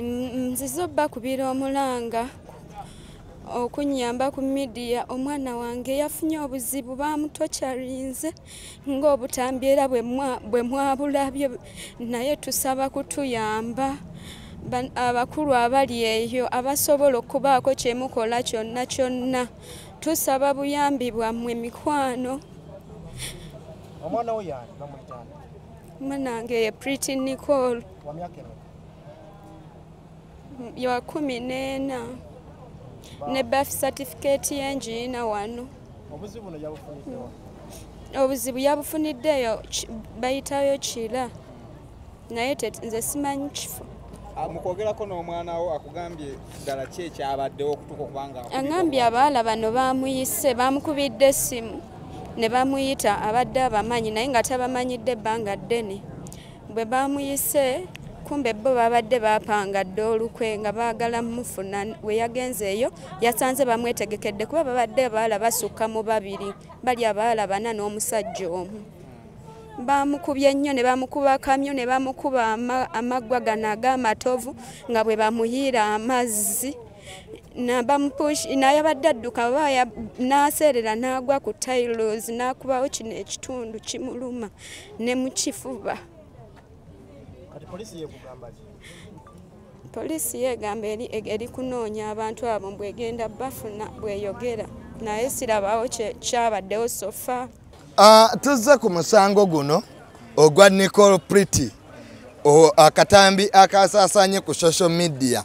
nzize obbakubira omulanga okunyamba ku midiya omwana wange yafunye obuzibu bamutokyarinze ng'obutambi era bwe mwabulabye naye tusaba kutuyamba abakulu abali eyo abasobola okubaako kyemukola kyonna kyonna tusaba buyambi bwammwe mikwano omwana wo yani bamuyitani mwanange ye pretty nicole ya kumi n'ena ne birth certificate y'engiina wano obuzibu no yabufuniddewa obuzibu yabufuniddeeyo bayitayo kira naye nze simanyi kifo ah, mukwogerako n'omwana wo akugambye ddala ki ekyabaddewo okutuka okubanga agambye abaala bano bamuyise bamukubidde essimu ne bamuyita abadde abamanyi naye nga tabamanyidde ebbanga ddene bwe baamuyise kumbe bo babadde bapanga dda olukwe nga baagala mufuna we yagenzeeyo yasanze bamwetegekedde kuba babadde abaala basukka mu babiri bali abaala bana n'omusajja omu bamukubye nnyo ne bamukuba kamyo ne bamukuba amaggwa gano ag'amatovu nga bwe bamuyiira amazzi naye abadde adduka baba n'aseerera n'agwa ku tailos n'akubawo kino ekitundu kimuluma ne mu kifuba poliisi yeegamba eri eri kunoonya abantu abo mbwegenda bafuna bweyogera naye sirabawo kyabaddewo sofa ah, tuzze ku musango guno ogwa nicol prity akatambi akasasanye ku social media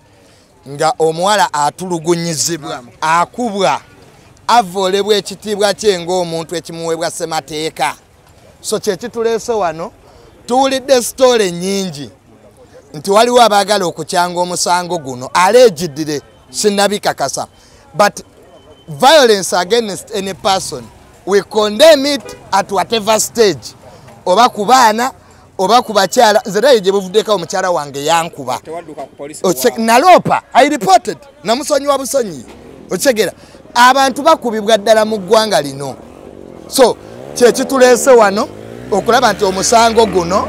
nga omuwala atulugunyizibwa akubwa avoolebwa ekitiibwa kye ng'omuntu ekimuweebwa ssemateeka so kyekituleese wano tuwulidde sitoole nyingi nti waliwo abaagala okukyanga omusango guno aleegiddire sinabikakasa but violence against any person we condemn it at whatever stage oba ku baana oba ku bakyala nze naye gye buvuddeko omukyala wange yankuba naloopa i reported namusonyiwa busonyi okitegera abantu bakubibwa ddala mu ggwanga lino so kyekituleese wano okulaba nti omusango guno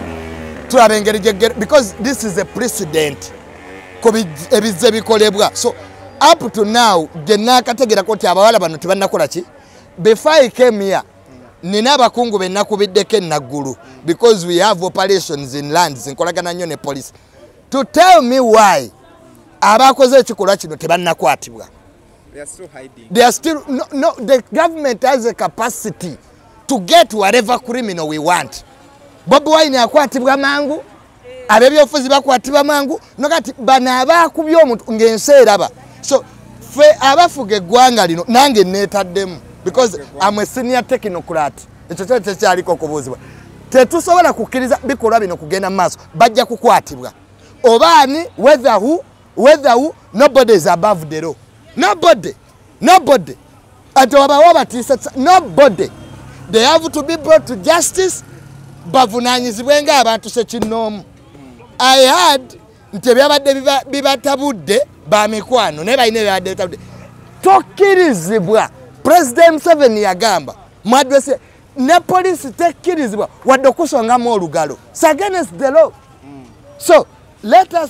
tulaba engeri gyegere because this is a president ku ebizze bikolebwa so up to now gye naakategerako nti abawala bano tebanakola ki before i came here nina abakungu benakubiddeko enaggulu because we have operations in lands nkolagana nnyo ne police to tell me why abakoze ekikolwa kino tebannakwatibwa they are still no, no, the government has a capacity to get whatever criminal we want bobi wine akwatibwa mangu abebyobufuzi bakwatibwa mangu nokati bano abaakubya omuntu ng'ensi eraba so fe abafuga eggwanga lino nange neetaddemu because am a senior technocrat ekyo kyali tekyaliko okubuuzibwa tetusobola kukkiriza bikolwa bino kugenda mu maaso bajja kukwatibwa obaani wetherhu wetherhu nobody is above the law nobody nobody ati wabawo abatiisa nobody they have to be brought to justice bavunanyizibwe nga abantu sekinnoomu i had nti ebyabadde bibatabudde bamikwano naye balina ebyabadde bitabudde tokkirizibwa president museven yagamba mu adresi ne poliisi tekkirizibwa wadde okusongamu olugalo against the law so let us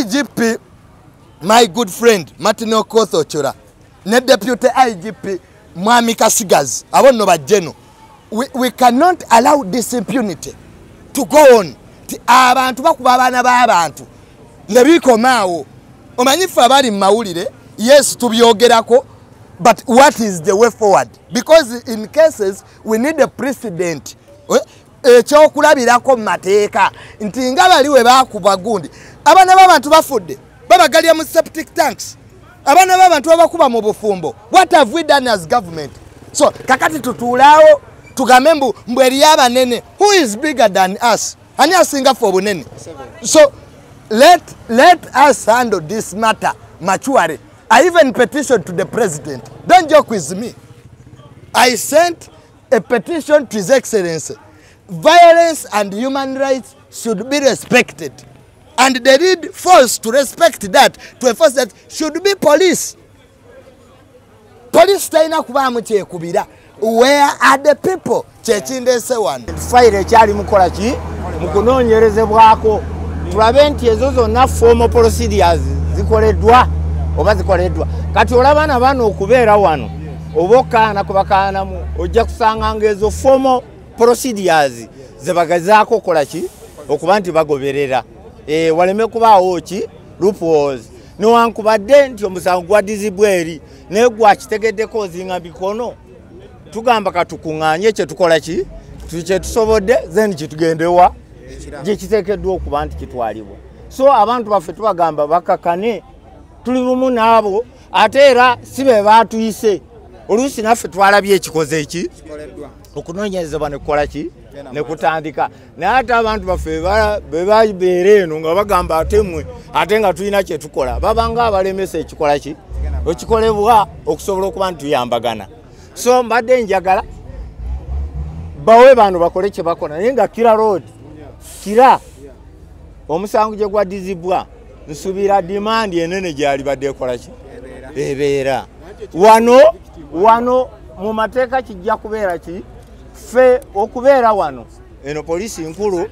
igp my good friend martin okoth ochora ne deputy igp mwami kasigazi abo nno bajjeno we, we cannot allow this impunity to go on ti abantu bakuba abaana b'abantu ne bikomaawo omanyi ffe abali mu mawulire yes tubyogerako but what is the way forward because in cases we need a precedent eh? ekyokulabirako mu mateeka nti nga bali we baakubwa gundi abaana b'abantu bafudde babagalya mu septic tanks abaana b'abantu babakuba mu bufumbo what have we done as government so kakati tutuulaawo tugambe mbu mbu eriyo abanene who is bigger than us ani asinga fe obunene so let, let us handle this matter maturely i even petition to the president don't joke with me i sent A petition to his excellency. Violence and human rights should be respected. And they need force to respect that, to enforce that should be police. Police taina kuba mche kubira. Where are the people? Chechinde se one. Fire chali mkola chi. Mkuno nyereze wako. Turabenti yezozo na formal procedures. Zikole dwa. Oba zikole dwa. Kati ulabana wano kubera wano. oba okaana kubakaanamu ojja kusanga nga ezo fomo procedures zebagazaako okukola ki okuba nti bagoberera e, waleme kubaawo ki lupos newankubadde nti omusango gwadizibwa eri naye gwakitegeddeko ozinga mikono tugamba katukuŋŋanye kyetukola ki kyetusobodde then kitugendewa gyekiteekeddwa okuba nti kitwalibwa so abantu baffe tubagamba bakakane tuli bumu naabo ate era si be baatuyise oluusi naffe twalabye ekikoze eki okunoonyezebwa ne kukola ki ne kutandika naye ate abantu baffe be babeera eno nga bagamba ate mwe ate nga tulina kye tukola babanga abalemesa ekikola ki ekikolebwa okusobola okuba nti tuyambagana so mbadde njagala bawe bano bakole kye bakola naye nga kira road kira omusango gye gwaddizibwa nsubiira dimandi enene gyalibadde ekolaki ebeera wano wano mu mateeka kijja kubeera ki ffe okubeera wano eno poliisi nkulu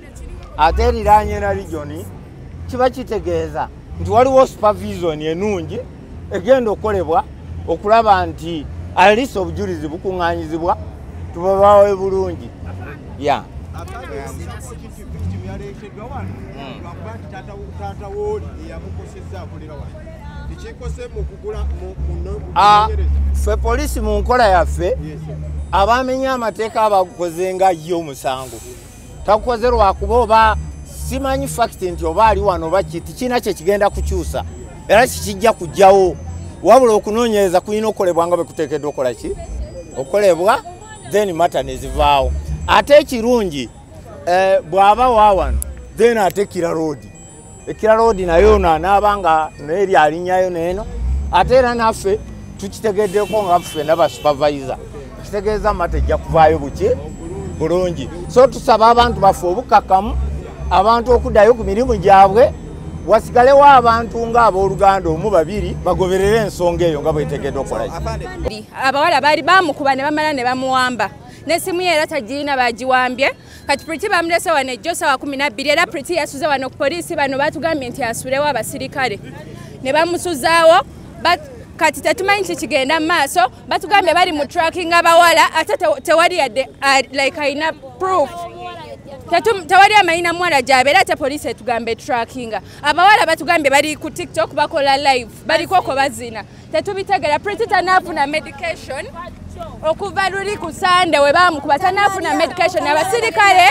ate eriranye na lijoni kiba kitegeeza nti waliwo supervision enungi egenda okukolebwa okulaba nti alisa obujulizi bukuŋŋanyizibwa tubabawe bulungi ya ah, fe poliisi mu nkola yaffe abamenya amateeka abagukoze nga ye omusango takukoze lwakuba oba simanyi fakiti nti oba ali wano oba kiti kiina kye kigenda kukyusa era kikijja kujjawo wabula okunoonyereza kulina okukolebwa nga bekuteekeddwa okola ki okukolebwa then mata nezivaawo ate ekirungi eh, bw'aba wa wano then ate kira roodi ekira loodi nayo ono anaaba nga naye lyalinyayo neeno ate era naffe tukitegeddeko nga ffe naba supervisor kitegeeza mata ejja kuvaayo buki bulungi so tusaba abantu baffe obukakamu abantu okuddayo ku mirimu gyabwe wasigalewo abantu nga abooluganda omu babiri bagoberere ensonga eyo nga bwetegedde okukola abawala baali bamukuba ne bamala ne bamuwamba n'essimu ye era tagirina bagiwambye kati priti bamulese wano ejjo sawa kumi nabbiri era priti yasuze wano ku poliisi bano batugambye nti asulewo abasirikale ne bamusuzaawo kati tetumanyi ki kigenda mu maaso batugambye bali mu tracking abawala ate tewali yadde uh, like alina proof tewali amanyina muwala gyabe era ate poliisi etugamba etrackinga abawala batugambye bali ku tiktok bakola live balikoko bazina tetubitegera priti tanafuna medication okuva luli ku sande webamukuba tanafuna medication abasirikale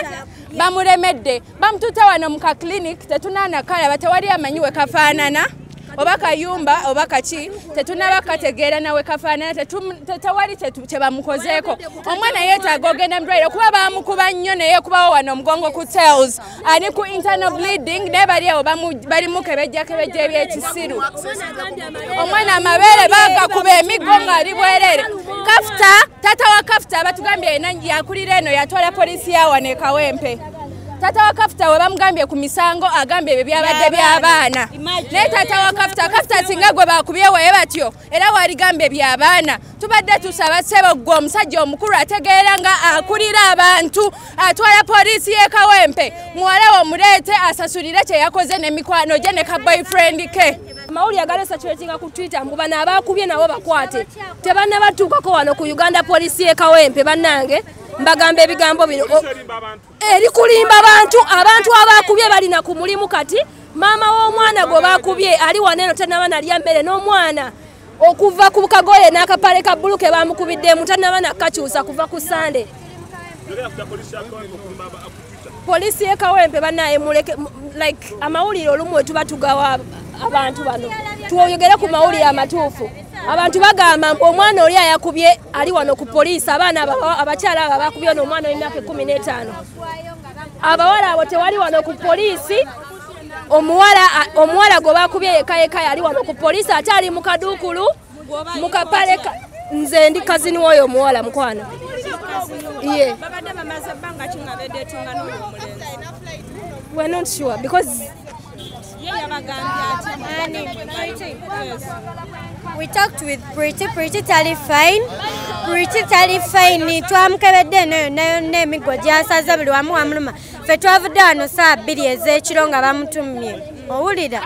bamuremedde bamututa wano mu ka clinic tetunanakalaba tewali amanyi wekafaanana oba kayumba oba kaki tetunaba kategeera nawe kafaanana tetawali kyebamukozeeko omwana yetaaga ogenda mudwaliro kuba bamukuba nnyo naye kubawo wano omugongo ku tales ali ku internal bleeding naye bali awo bali mukebejja kebejja ebyekisiru omwana amabeere bagakuba emiggo ngaali bwerere kafuta tata wa kafuta abatugambye ena yakulira eno yatwala polisi yawana ekawempe tata wa kafuta we bamugambye ku misango agambye ebyo byabadde by'abaana naye tata wa kafuta kafuta singa gwe bakubyewaye batyo era waligamba ebyabaana tubadde tusaba sebo gwe omusajja omukulu ategeera nga akulira abantu atwala poliisi yekawempe muwala womuleete asasulire kyeyakoze nemikwano gye ne ka boyfriend ke amawulire agali esakiratinga ku twitter mbu bano abaakubye nabo bakwate tebannabatuukako wano ku uganda poliisi yekawempe bannange mbagamba ebigambo bino erikulimba abantu abantu abakubye balina ku mulimu kati maama w'omwana gwe bakubye ali wano eno tanaba nalya mmere n'omwana okuva ku kagoye n'akapale ka bbulu ke bamukubiddemu tanaba nakakyusa kuva ku sande polisi yekawempe banaye muleke like amawulire olumu wetuba tugawa abantu bano twogere ku mawulire amatuufu abantu bagamba mbu omwana oli ayakubye ali wano ku poliisi abaana abakyala abo abakubye ono omwana w'emyaka ekumi n'etaano abawala abo tewali wano ku poliisi omuwala gwe bakubye yekayeka yali wano ku poliisi ate ali mu kaduukulu mu kapale nze ndi kazini woyo omuwala mukwano ye we're not sure because We talked with Pretty. Pretty tali fine. Pretty tali fine. Twamukebedde nayo nayo n'emiggo gyasaze buli wamu wamuluma. Ffe twavudde wano saa bbiri ez'ekiro nga bamutumye. Owulira?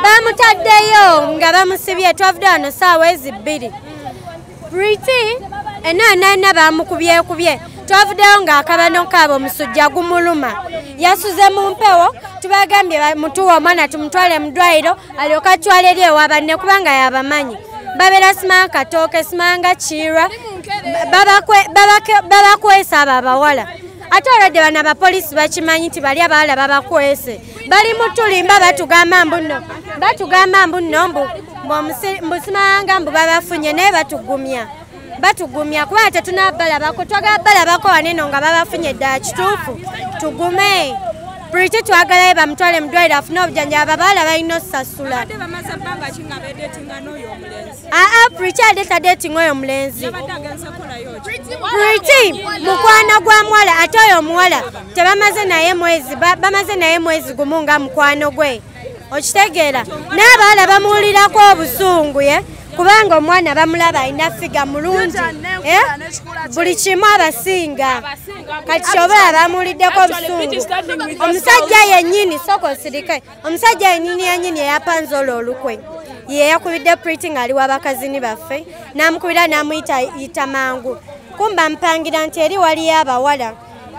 Bamutaddeyo nga bamusibye twavudde wano saawa ezi bbiri. Pretty enaanaana baamukubyekubye twavuddeyo ng'akabano kaabo omusujja gumuluma yasuze mu mpewo tubagambye mutuwa omwana tumutwale mu ddwaliro alyoka atwala eri ewa banne kubanga yabamanyi babeera simanga katooke simanga kiirwa babakwesa abo abawala ate olwadde bano abapoliisi bakimanyi nti bali abaala babakwese bali mutulimba batugamba mbuno batugamba mbuno mbu mbusimayanga mbu babafunye naye batugumya batugumya kubanga tetunabalabako twagala balabako waneno nga babafunye ddala kituufu tugume puliti twagalayo bamutwale mudwaire afune obujanjaba babaala balina osasula aa priti aleeta dating oyo mulenzi priti mukwano gwa muwala ate oyo omuwala tebamaze naye mwezi bamaze naye mwezi gumu nga mukwano gwe okitegeera n'abawala bamuwulirako obusungu ye kubanga omwana bamulaba alina figa mulungi eh? buli kimu abasinga kati kyoba abamuliddeko obusungu omusajja yennyini soka osirike omusajja yenyini yenyini eyapanze olwo olukwe yeyakubidde priti ngaali wabakazini baffe namukubira namuyita yita mangu kumba mpangira nti eri waliyo abawala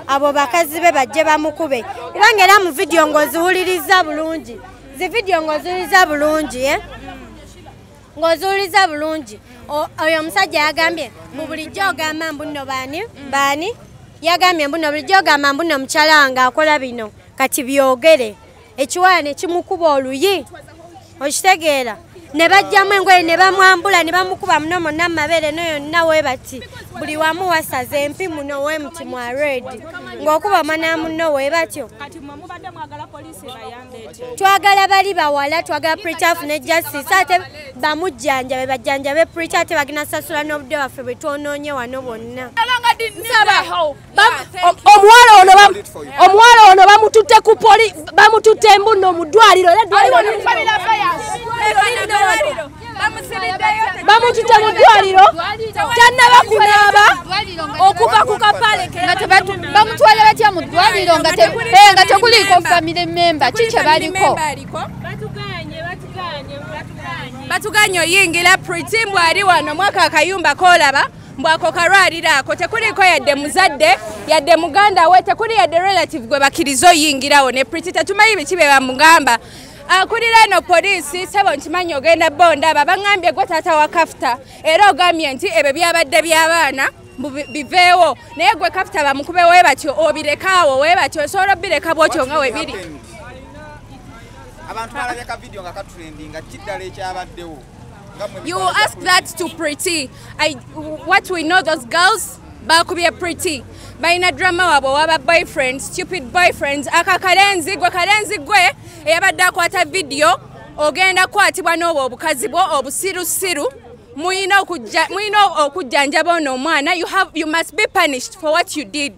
abo bakazi be bajje bamukube kubanga era mu vidiyo ngaoziwuliriza bulungi zi vidiyo ngaoziwuliriza bulungi e eh? ngaoziwuliriza bulungi oyo omusajja yagambye mu bulijjo ogamba mbuno baani baani yagambye mbuno bulijjo ogamba mbuno mukyala wange akola bino kati byogere ekiwala ne kimukuba oluyi okitegeera ne bajjamu engoye ne bamwambula ne bamukuba muno monna mu mabeere no yonna we bati buli wamu wasaza empi muno we muti mwa redi ng'okuba omwana muno we batyo twagala bali bawala twagala preacha afune justice ate bamujjanjabe bajjanjabe preacha ate bagina sasula n'obudde waffe bwe twonoonye wano bonna omuwala ono omuwala ono bamututte ku poli bamututte embunno mu ddwaliro bamututte mu ddwaliro tannaba kunaaba okuva ku kapalebamutwala batya mu ddwaliro nga eh, teguliiko famire memba ki kye baliko batuganye oyingila pritimbw ali wano mwaka akayumba kolaba mbwako kalwaliro ako tekuliiko yadde muzadde yadde muganda we tekuli yadde relative gwe bakiriza oyingirawo ne priti tetumanyi biki be bamugamba akulira ah, eno poliisi sebo nkimanyi ogenda bonda babaŋambye gwe taata wa kafuta era ogambye nti ebyo byabadde by'abaana biveewo naye gwe kafuta bamukube we batyo obirekaawo we batyo osobola obireka bwotyo nga webiri abantu balabye ka vidiyo nga katrendinga kiddala ekyabaddewo you ask that to pretty I, what we know those girls bakubye pretty balina drama wabwe waba boyfriend stupid boyfriends aka kalenzi gwe kalenzi gwe eyabadde akwata vidiyo ogenda kukwatibwa n'obwo obukazi bwo obusirusiru mulina okujjanjaba ono omwana you must be punished for what you did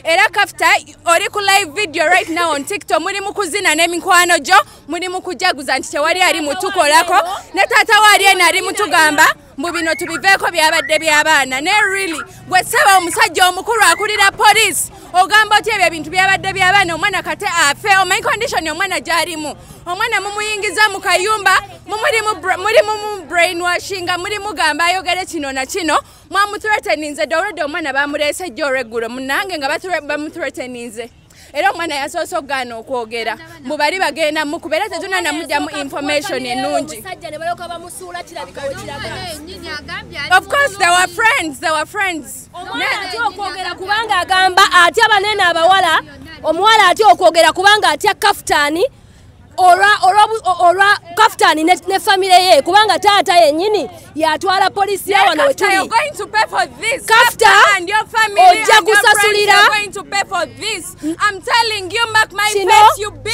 era kafta oli ku live video right now on tiktok muli mu kuzina n'emikwano gyo muli mu kujaguza nti tewali ali mutukolako ne taata waali eno ali mutugamba mbu bino tubiveeko byabadde by'abaana ne really gwe saba omusajja omukulu akulira poliisi ogamba otya ebyo ebintu byabadde by'abaana omwana kate afe omanyi konditioni omwana gy'alimu omwana mumuyingiza mu kayumba muli mu brainwashinga muli mugamba ayogere kino na kino mwamutureteninze doredi omwana bamurese ejjo olweggulo munange nga bamutureteninze era omwana yasoose okugaana okwogera mbu bali bagenda mukuba era tetuna namugyamu information enungi of course they were friends they were friends okwogera kubanga agamba atya banene abawala omuwala atya okwogera kubanga atya kafutani olwa kafutani ne famire ye kubanga taata yenyini yatwala polisi ya wano wetuli kafuta ojja kusasulira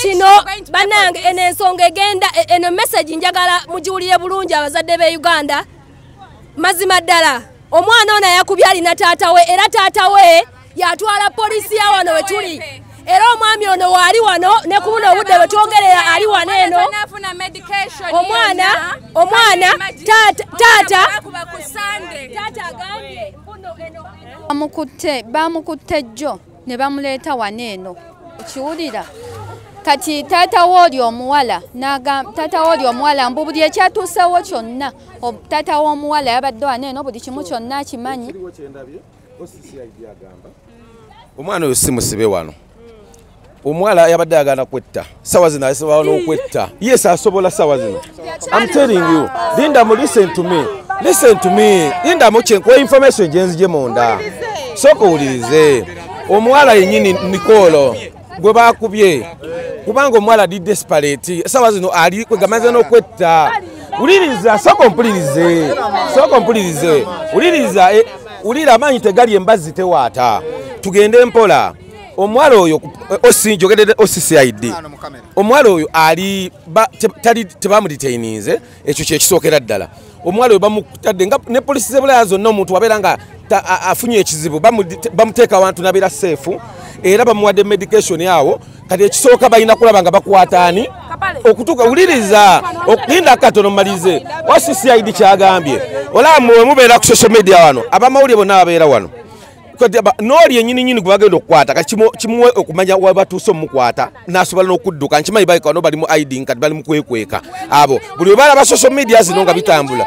kino banange eno ensonga egenda e, eno mesagi njagala mugiwulire bulungi abazadde be uganda mazima ddala omwana ono yakubye alina taata we era taata we yatwala poliisi ya wano we tuli era omwami ono waali wano ne ku buno obudde bwe twogerera ali wano eno omwana omwana taata taata agambye bamukutte bamukutte jjo ne bamuleeta wano eno okiwulira kati taata wooli omuwala taata wooli omuwala mbu buli ekyatuusewo kyonna taata w'omuwala yabadde wano eno buli kimu kyonna akimanyi omwana oyo simusibe wano omuwala yabadde agana kwetta sawa zino asobola n'okwetta yes asobola sawa zino am telling you linda mu listen to me listen to me linda mu kyenkuwa information gyenzije munda sooka owulirize omuwala yenyini nikolo gwe bakubye kubanga omuwala ali desperate esawa zino ali kwegamaze n'okwetta wuliriza sooka ompulirize sooka ompulirize wuliriza eh, wulira amaanyi tegali embazzi tewaata tugende mpola omuwala oyo eh, osi njogedede occid omuwala oyo ali tebamuditaininze ekyo kyekisookera ddala omuwala we bamutadde nga ne polisi zebulaya zonna omuntu wabeera nga afunye ekizibu bamuteeka awantu nabeera seefu era bamuwadde medication awo kati ekisooka balina kulaba nga bakwataani okutuuka wuliriza linda katono mumalize wa ccid kyagambye olaba mwe mubeera ku social media wano abamawulire bonna babeera wano n'oli enyini nyini gwe bagenda okukwata kati kimuwe okumanya webatuuse omukwata nasobola n'okudduka nkimanyi baleka no bali mu iding kati bali mukwekweka abo buli webalaba social media zino nga bitambula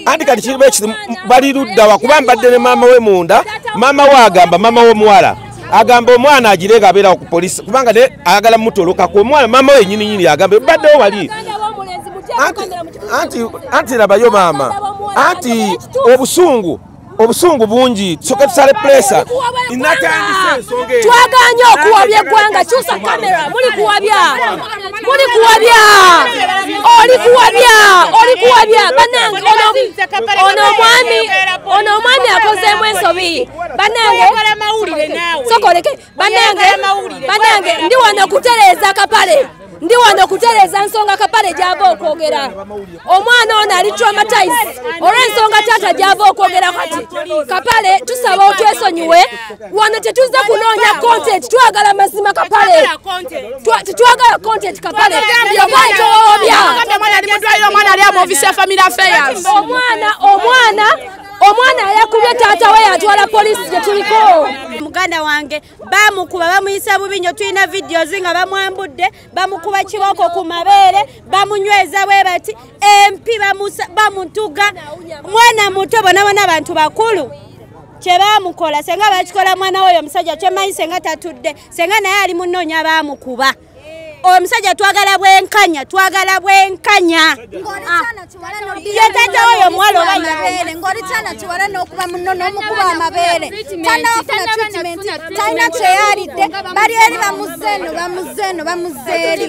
anti kati kiriba ekizimu bali luddawa kuba mbadde ne maama we munda maama we agamba maama w'omuwala agamba omwana agire nga abeerawo ku polisi kubanga ne ayagala mutolokaku omwana maama we enyini nyini agamba ebaddewo wali anti labayo maama anti obusungu obusungu bungi tusoke tusale pulesa twaganye okuwabya eggwanga kyusa kamera muli kuwabya muli kuwabya oli kuwabya oli kuwabya banange ono omwami ono omwami akozeemu ensobi banange sokoleke banange banange ndi wano kutereeza kapale ndi wano kutereeza nsonga kapale gyava okwogera omwana ono ali traumatize olw'ensonga taata gyava okwogera kati kapale tusaba otwesonyiwe wano tetuzze kunoonya content twagala mazima kapale tetwagala content kapale yabaye towawabya omwana omwana omwana ayakubye taata we yatwala poliisi gye tuliko muganda wange bamukuba bamuyisa bubi nyo tulina videos nga bamwambudde bamukuba kiboko ku mabeere bamunyweza bwe bati empi bamutuga mwana muto bonabona abantu bakulu kyebamukola senga bakikola mwana woyo omusajja kyemanyi senga tatudde senga naye ali munoonya bamukuba omusajja twagala bwenkanya twagala bwenkanya ah. yetata oyo mwalo bamabere ngoli kyana kiwala n'okuba muno n'omukuba amabeere tanafuna treatment talina kyeyalidde bali eri bamuzeeno bamuzeeno bamuzeeri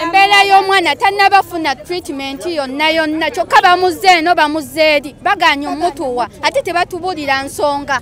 embeera y'omwana tanabafuna treatment yonna yonna kyokka bamuzeeno bamuzeeri baganya omutuwa ate tebatubulira nsonga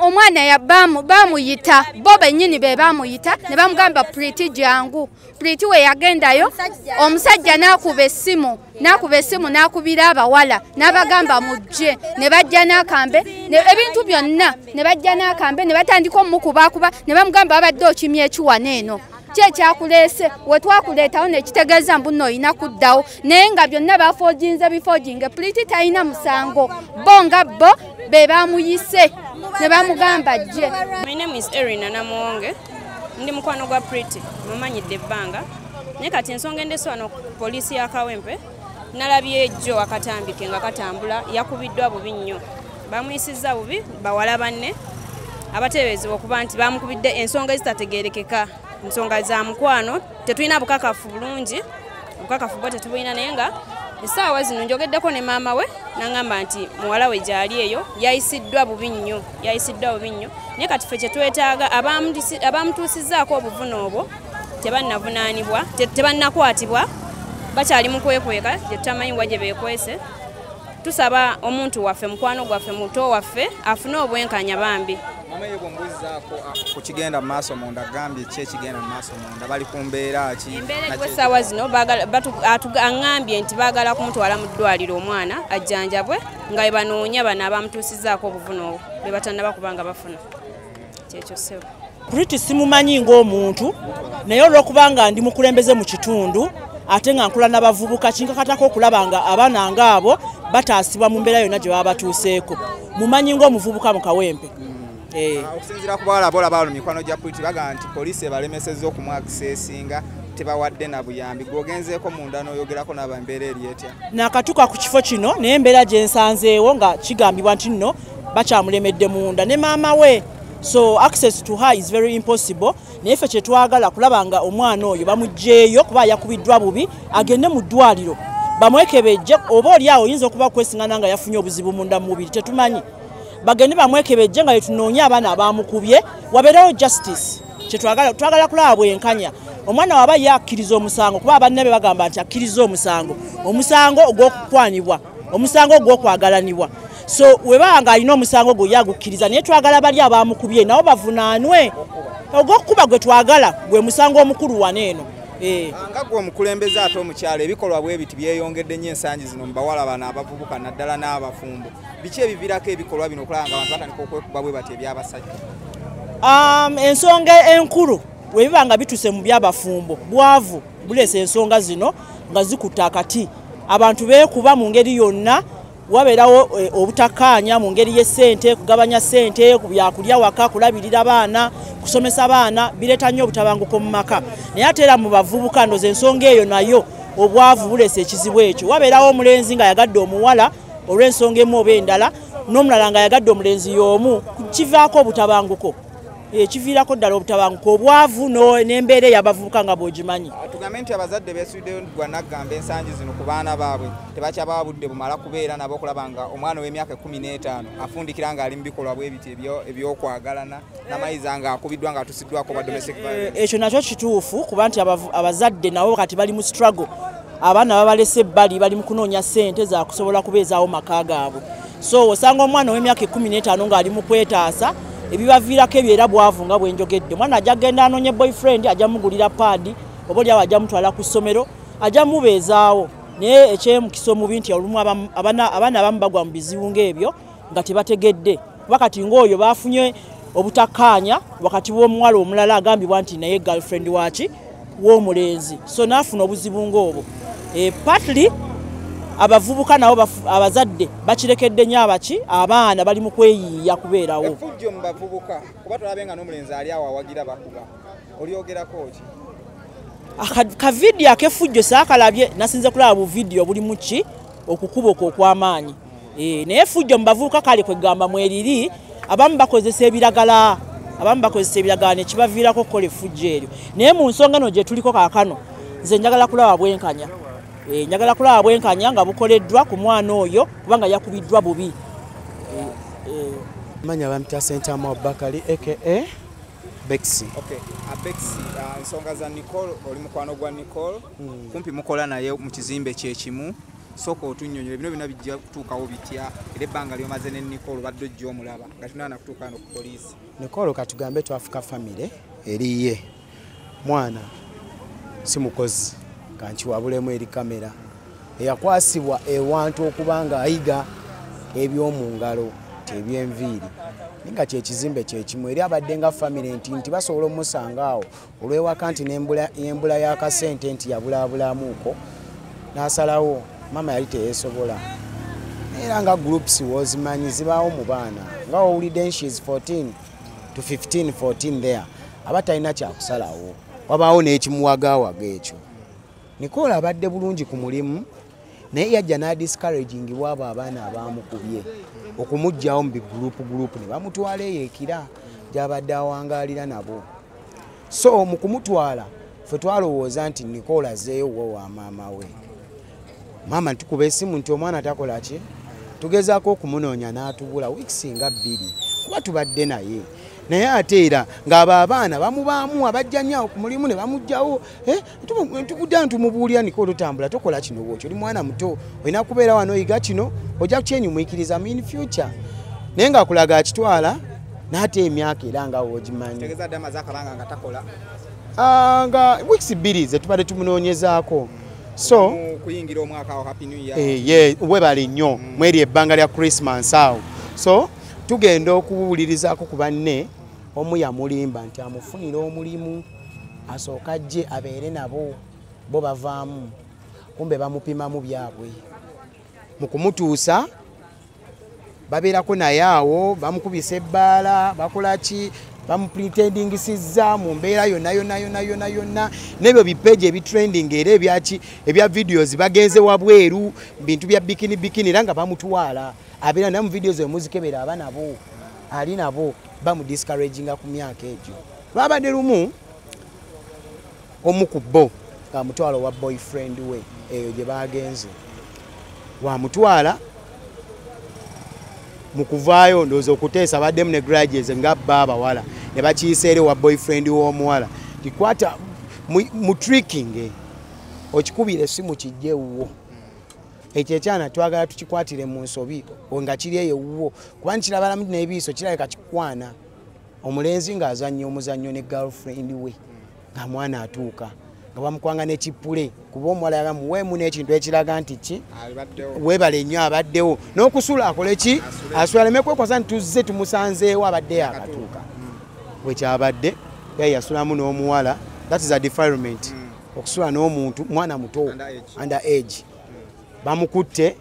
omwana bamuyita bo benyini be bamuyita ne bamugamba priti jangu priti we yagendayo omusajja n'akuba essimu n'akuba essimu n'akubira abawala n'abagamba mujje ne bajja n'akambe ebintu byonna ne bajja n'akambe ne batandika omukubaakuba ne bamugamba babadde okimya ekiwana eno kyekyakuleese wetwakuleetawo nekitegeeza mbuno olina kuddawo naye nga byonna bafoginze bifoginge puliti talina musango bo nga bo be bamuyise ne bamugamba jje ndi mukwano gwa priti mumanyidde ebbanga naye kati ensonga endeswano poliisi ya kawempe nalabye jjo akatambi ke nga katambula yakubiddwa bubi nnyo bamuyisizza bubi bawala banne abateeberezebwa okuba nti bamukubidde ensonga ezitategerekeka nsonga za mukwano tetulina bukakafu bulungi obukakafu bwo tetubulina naye nga esaawa zino njogeddeko ne maama we nangamba nti muwala we gyali eyo yayisiddwa bubi nnyo yayisiddwa bubi nnyo naye kati fe kyetwetaaga abamutuusizaako obuvuna obwo tebannavunaanibwa tebannakwatibwa bakyali mu kwekweka gye tutamanyi wa gye beekwese tusaba omuntu waffe mukwano gwaffe muto waffe afune obwenkanya bambi ku kigenda mu maaso munda gambye ki ekigenda mu maaso munda bali ku mbeera ki embeera eriwo essaawa zino aŋambye nti baagala kumutwala mu ddwaliro omwana ajjanjabwe nga bwe banoonya bano abamutuusizaako obuvune obwo be batannaba kubanga bafuna kyekyo sebo puriti simumanyi ng'omuntu naye olw'okubanga ndi mukulembeze mu kitundu ate nga nkula n'abavubuka kinkakatako okulaba nga abaana ngaabo bataasibwa mu mbeera yonna gye baba batuuseeko mumanyi ng'omuvubuka mu kawempe eh. ah, okusinziira ku bawala bola balo mikwano gya puliti bagamba nti poliisi ebalemesezza okumwakisa esinga tebawadde na buyambi gwogenzeeko munda n'oyogerako naba embeera eri etya nakatuka ku kifo kino naye embeera gye nsanzeewo nga kigambibwa nti nno bakyamulemedde munda ne maama we so access to her is very impossible naye ffe kyetwagala kulaba nga omwana oyo bamugyeyo kuba yakubiddwa bubi agende mu ddwaliro bamwekebejje oba oli awo oyinza okuba kwesingana nga yafunye obuzibu munda mumubiri tetumanyi bagende bamwekebejje nga yetunoonye abaana abamukubye wabeerewo justice kyetwagala twagala kulaba bwenkanya omwana waba ye akkiriza omusango kuba abanne be bagamba nti akkiriza omusango omusango ogw'okukwanibwa omusango ogw'okwagalanibwa so webaba nga alina omusango gwe yagukkiriza naye twagala bali abamukubye nabo bavunaanwe ogw'okukuba gwe twagala gwe musango omukulu wana eno eh. nga gwe omukulembeze ate omukyalo ebikolwa bwe biti byeyongedde nnyo ensangi zino mu bawala bano abavubuka naddala n'abafumbo biki ebivirako ebikolwa bino okulaba nga abantu batandika okwekuba bwe bati ebyabasajja um, ensonga enkulu webiba nga bituse mu byabafumbo bwavu buleesa ensonga zino nga zikutte akati abantu beekuba mu ngeri yonna wabeerawo eh, obutakkaanya mu ngeri y'essente kugabanya ssente ku byakulya waka kulabirira baana kusomesa baana bireeta nnyo obutabanguko mu maka naye ate era mu bavubuka ndoza ensonga eyo nayo obwavu buleesa ekizibu ekyo wabeerawo omulenzi nga yagadde omuwala olw'ensonga emu oba endala n'omulala nga yagadde omulenzi y'omu kivaako obutabanguko ekiviirako ddala obutabanguka obwavu n'embeera eyabavubuka nga bwogimanyi ah, tugambe nti abazadde beesuddeyo gwa naggamba ensangi zino ku baana baabwe tebakyabawa budde bumala kubeera nabo okulaba nga omwana ow'emyaka ekumi n'etaano afundikira ng'ali mu bikolwa bwe biti ebyokwagalana namayiza nga akubiddwa nga atusiddwako ba domestic eh, ekyo nakyo kituufu kuba nti abazadde nabo kati bali mu struggle abaana babalese ebbali bali mu kunoonya ssente za kusobola kubeezaawo maka gaabwe so osanga omwana ow'emyaka ekkumi n'etaano ng'ali mu kwetaasa ebibaviirako ebyo era bwavu nga bwenjogedde omwana ajja kugenda anoonye boyfriend ajja mugulira paadi oba olyawo ajja mutwala ku ssomero ajja mubeezaawo naye ekyemukisa omubi nti olumu abaana abamu bagwa mu bizibu ng'ebyo nga tebategedde kuba kati ng'oyo baafunye obutakkaanya wakati w'omuwala omulala agambibwa nti naye girlfriend waaki w'omulenzi so naafuna obuzibu ng'obwo e, partly abavubuka nabo abazadde bakirekedde nyo abaki abaana bali mu kweyiiya kubeerawo efujjo mu bavubuka kuba tulabe nga n'omulenzi ali awo awagira bakuba olyogerako ki kavidiyo akefujjo saakalabye nasinze kulaba buvidiyo bulimu ki okukuba okwo okw'amaanyi Eh, naye fujjo mubavuuka kale kwegamba mweriri abamu bakozesa ebiragala abamu bakozesa ebiragala nekibaviirako okukola efujjo eryo naye mu nsonga no gyetuliko kakano nze njagala kulaba bwenkanya eh, njagala kulaba bwenkanya nga bukoleddwa ku mwana oyo kubanga yakubiddwa bubi eh, manya bamita sentamu abubakali aka bexi okay. abexi uh, nsonga za nicole oli mukwano gwa nicole hmm. kumpi mukola naye mu kizimbe kyekimu soka otunyonyole bino bino bijja kutuukawo bitya era ebbanga lyomaze ne nicol obadde ojja omulaba nga tunana kutuuka no ku poliisi nicol katugambe twafuka famire eriye mwana si mukozi kankiwabulemu eri kamera eyakwasibwa ewantu okuba nga ayiga eby'omu ngalo ebyenviiri ninga kyekizimbe kyekimu eri abadde nga famire nti nti basobola omusanga awo olwewaka nti nembula yakasente nti yabulabulamuuko nasalawo mama yali teyesobola era nga groups wozimanyi zibaawo mu baana nga owulidde nshes 14 to 15 14 there aba talina kyakusalawo wabaawo n'ekimuwagawaga ekyo nikola abadde bulungi ku mulimu naye yajja nadiscouragingibwa abo abaana abamukubye okumugjawo mu bigroup group ne bamutwala eyo ekira gyabadde awangaalira nabo so mu kumutwala ffe twalowooza nti nikola azeeyo wo wa maama we maama tukuba esimu nti omwana takola ki tugezaako okumunoonya n'atubula wiikisi nga bbiri kuba tubadde naye naye ate era ng'abo abaana bamubaamu abajja nyawo ku mulimu ne bamugjawo eh? tukudda ntumubuulira niko olutambula tokola kino bwotyo oli mwana muto olina kubeera wano oyiga kino ojja kukyenyumwikiriza mu in future naye ngaakulaga akitwala naate emyaka era nga wogimanyi ah, nga weeks bbiri zetubadde tumunoonyezaako so eh, webale nnyo mm. mweri ebbanga lya christmas awo so tugenda okuwulirizako ku banne omu yamulimba nti amufunira omulimu asooka ajje abeere nabo bo bavaamu kumbe bamupimamu byabwe mu kumutuusa babeerako naye awo bamukubisa ebbaala bakola ki bamupretendingisiza mu mbeera yonna yonna yonna yonna yonna n'ebyo bipeji ebitrending era ebyaki ebya videos bagenze wabweru bintu bya bikini bikini era nga bamutwala abeera naye mu videos emuzikebera aba nabo ali nabo bamudiscouraginga ku myaka egyo lwabadde lumu omu ku bo ngamutwala owa boyfriend we eyo gye bagenze wamutwala mu kuvaayo ndowooza okuteesa baddemu ne graduates nga bba abawala ne bakiyisa eri owa boyfriend w'omuwala tikwata mu tricking okikubira esimu kijja ewuwo ekyo ekyana twagala tukikwatire mu nsobi nga kiri eyo ewuwo kuba nikirabalamu nebiiso kirabika kikwana omulenzi ng'azannya omuzannyo ne girlfriend we nga mwana atuuka nga bamukwanga nekipule kuba omuwala yaga muweemu n'ekintu ekiraga nti ki webale nnyo abaddewo n'okusula akole ki asula leme kwekwasa nti tuzze tumusanzeewo abadde yakatuuka hmm. wekyabadde yaye yasulamu n'omuwala that is a defilement hmm. okusula n'omuntu mwana muto under age hmm. bamukutte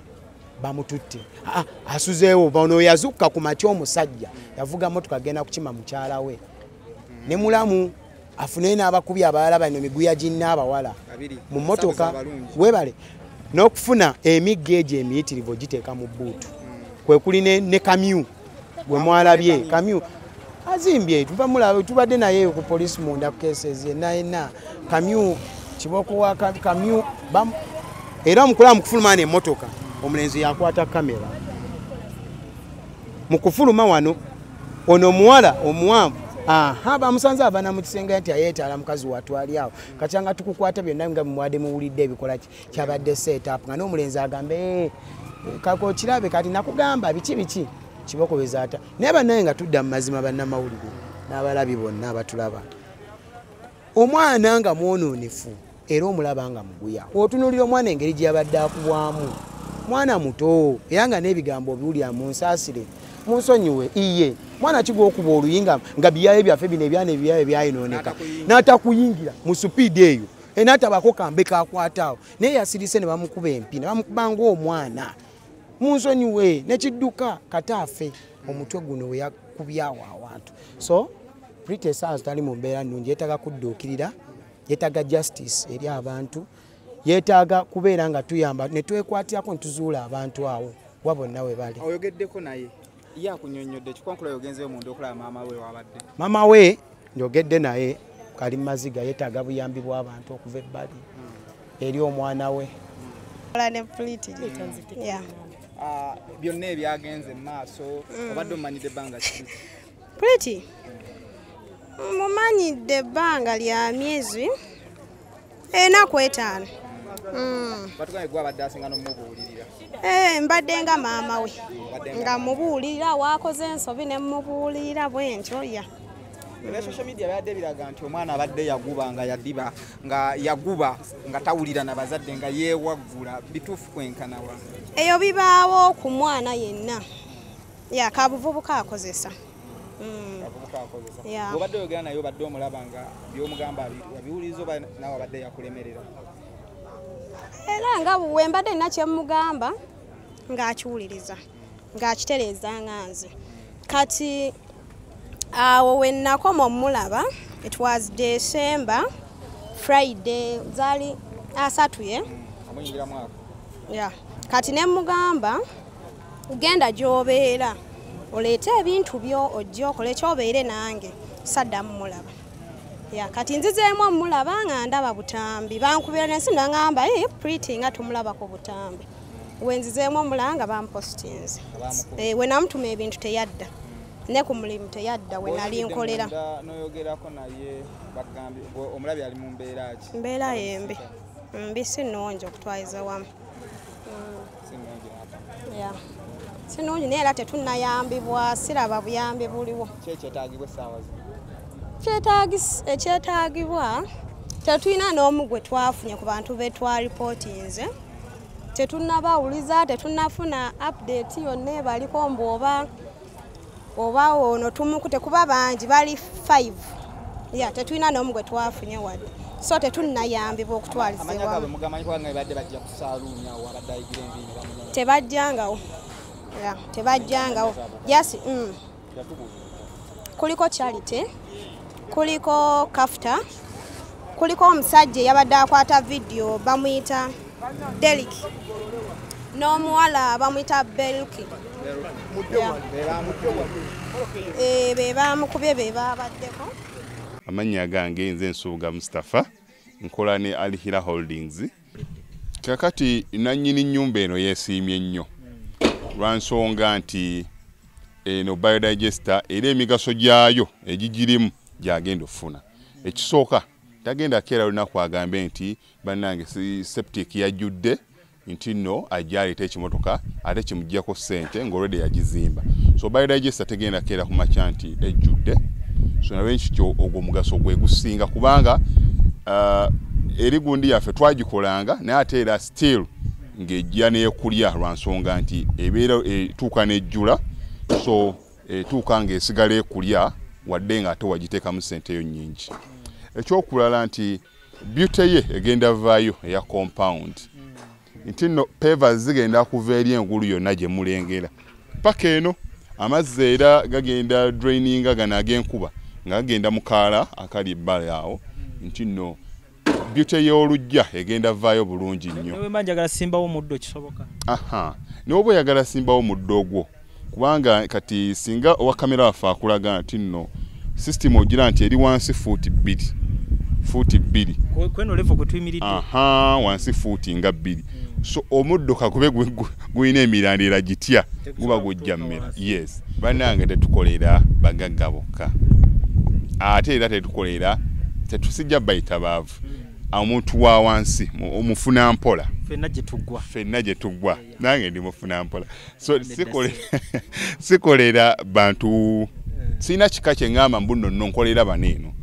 bamututte ah, asuzeewo ono yazukka ku matya omusajja yavuga motoka agenda kukima mukyala we ne mulamu afuneyo n'abakubi abalala bano miguya ginna abawala mu motoka webale n'okufuna emigga egyo emiyitirivu ogiteeka mu bbuutu kwe kuli ne kamyu gwe mwalabye kamyu azimbye tuva mulaba tubadde naye eyo ku poliisi munda ku cases yenna yenna kamyu kiboko wa kamyu era omukulaba mu kufuluma na emmotoka omulenzi yakwata kamera mu kufuluma wano ono omuwala omuwanvu aha bamusanze avana mu kisenge nti ayeetaala mukazi watwali awo katyanga tukukwata byonna nga mumwade muwulidde ebikolaki kyabadde setup nga n'omulenzi agambe eh, kako kirabe kati nakugamba biki biki kibokoweza ata naye banaye nga tudda mu mazima bannamawulire n'abalabi bonna abatulaba omwana nga mwononefu era omulaba nga muguya otunulira omwana engeri gye yabadde akubwamu mwana muto era nga n'ebigambo obiwulira mu nsaasire munsonyiwe iye mwana kigwa okuba oluyinga nga biyaye byaffe bino ebyana ebiyaye byayinooneka n'atakuyingira mu supiidi eyo enatabako kambe kakwataawo naye yasirise ne bamukuba empi ne bamukuba ngaomwana munsonyiwe nekidduka kataafe omutwe guno weyakubyawo awantu so pretty sans tali mu mbeera nnungi yetaaga kudduukirira yetaaga justice eri abantu yetaaga kubeera nga tuyamba netwekwatirako nituzuula abantu awo wabonna we bali oyogeddeko naye ya kunyonyodde kikonkula yogenzeyo munda okulaba maama we wabadde maama we njogedde naye kali maziga yetaaga buyambi bw'abantu okuva ebbali hmm. eri omwana we ah, byonna ebyagenze mu maaso hmm. obadde omumanyidde ebbanga ki puliti mumanyidde ebbanga lya myezi enaku eh, etaano mm. eh, mbadde nga maama we nga mubuulirira waakoze ensobi ne mubuulirira bwentyo ya ebya social media byadde biraga nti omwana abadde yaguba nga yadiba nga yaguba nga tawulira na bazadde nga yeewaggula bituufu kwenkanawa eyo bibaawo ku mwana yenna yakabuvubuka akozesa Mm. abavubuka akozesa obadde oyogera naye obadde omulaba nga byomugamba abiwuliriza oba nawe abadde yakulemerera era nga wembadde nina kyemugamba ng'akiwuliriza ng'akitereeza nga nze kati awo wennakoma omulaba it was december friday zaali asatu ye mm, ya kati nemugamba genda gy'obeera oleete ebintu byo ojja okola ekyobeere nange saddamu mulaba ya kati nzizeemu omulaba nga ndaba butambi bankubira nensi nangamba e priti nga tumulaba ku butambi wenzizeemu omulaba nga bampositinze eh, wenamutuma ebintu teyadda ne ku mulimu teyadda we nali nkolera mbeera yembi mbi si nungi okutwaliza wamu sinungi naye era tetunayambibwa siraba buyambi buliwo ekyetagibwa tetulina n'omu gwe twafunye ku bantu be twaripootinze tetunabawuliza tetunafuna update yonna ebaliko mbu oba oba ono tumukute kuba bangi bali 5 ya tetulina n'omu gwe twafunye wadde so tetunnayambibwa okutwalizibwatebajjangawo tebajjangawo jasi mm. kuliko charity kuliko kafta kuliko omusajja eyabadde akwata vidiyo bamuyita Delik n'omuwala bamuyita Belki eh, be baamukubye be baabaddeko amannya gange nze nsuubuga mustapha nkola ne alhira holdings kakati nannyini nnyumba eno yeesiimye nnyo lwa nsonga nti eno biodigester era emigaso gyayo egigirimu gyagenda okufuna ekisooka tagenda keera lunaku agambe nti bannange si septic yajjudde nti no ajja aleeta ekimotoka ate kimuggyako ssente ng'olwedde yagizimba so biodigesta tegenda keera ku makya nti ejjudde so nalwekityo ogwo omugaso gwe gusinga kubanga uh, eri gundi yaffe twagikolanga naye ate era still ng'ejja neekulya lwa nsonga nti ebeera etuuka n'ejjula so etuuka ng'esigala ekulya wadde ng'ate wagiteekamu ssente eyo nnyingi ekyokulala nti beauty ye egenda vaayo eya compound nti no peva zigenda kuva eri engulu yonna gye mulengera paka eno amazzi era gagenda draininga gano ag'enkuba nga gagenda mu kaala akali ebbali awo nti no beauty y'olujja egenda vaayo bulungi nnyo aha n'oba oyagala simbawo muddo ogwo kubanga kati singa owa kamera waffe akulaga nti nno sisitimu ogira nti eri wansi fuuti bbiri fuuti bbiri wansi fuuti nga bbiri hmm. so omuddo kakube gulina emirandira gitya guba gujja mmera yes banange tetukolera bagagga bokka ate era tetukolera tetusijja bayita baavu hmm. omuntu wa wansi omufuna mpola fenna gye tuggwa nange ndi mufuna mpola so sikolera bantu eh. sirina kika kyeŋamba mbuno no nkolera bano eno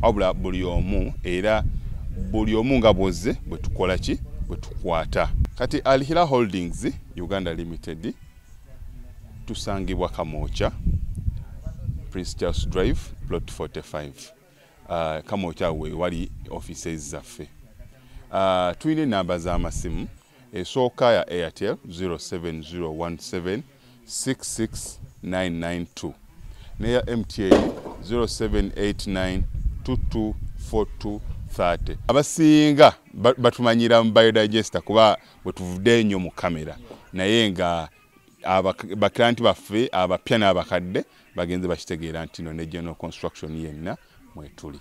wabula buli omu era buli omu nga bwozze bwetukola ki bwetukwata kati alhira holdings uganda limited tusangibwa kamokya prince charles drive plot 45 uh, kamokya wewali offices zaffe uh, tulina enamba z'amasimu esooka ya airtel 0701766992 neya mtn 0789224230 abasinga batumanyira mu biodigester kuba bwetuvude enyo mu kamera naye nga bakiranti baffe abapya n'abakadde bagenze bakitegeera nti no ne general construction yenna mwetuli